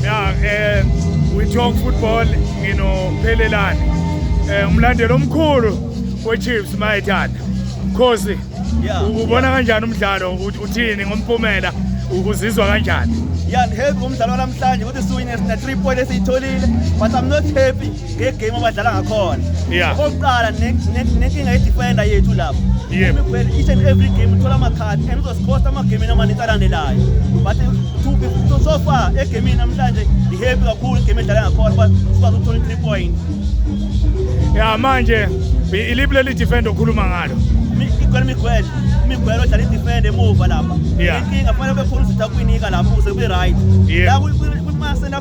Yeah, eh we talk football nginophelelani. Eh umlandeli omkhulu weChiefs mayithanda. Khosi ubona kanjani umdlalo uthini ngompumela uzizwa kanjani? Yeah, I'm happy ngomdlalo namhlanje ukuthi siwine sina 3 point esiyitholile but I'm not happy ngegame abadlala ngakhona Yeah. okokuqala ne- ne- nenkinga yedifenda yethu lapho Yebo. Imiguel, each and every game uthola amakhadi and uzosicosta amagemini amaningi alandelayo but to be so- so far egemini namhlanje ngihappy kakhulu igame edlala ngakhona uba sikwazi ukuthola i-three point ya manje i- iliphi leli defend okhuluma ngalo Mi- igwele miguel imiguel odlala idifenda emuva lapha Yeah. inkinga fanele bekhona usitha kuyinika lapho ukuze kube-right Yeah. la kwi-center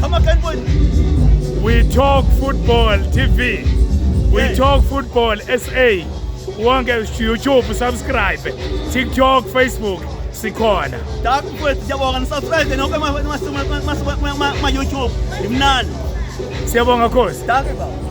Come on, Ken Boy. We talk football TV. We yeah. talk football SA. Wonke YouTube subscribe. TikTok, Facebook sikhona. Dark kwethu siyabonga nisubscribe nonke ma YouTube. Imnandi. Siyabonga course. Dark baba.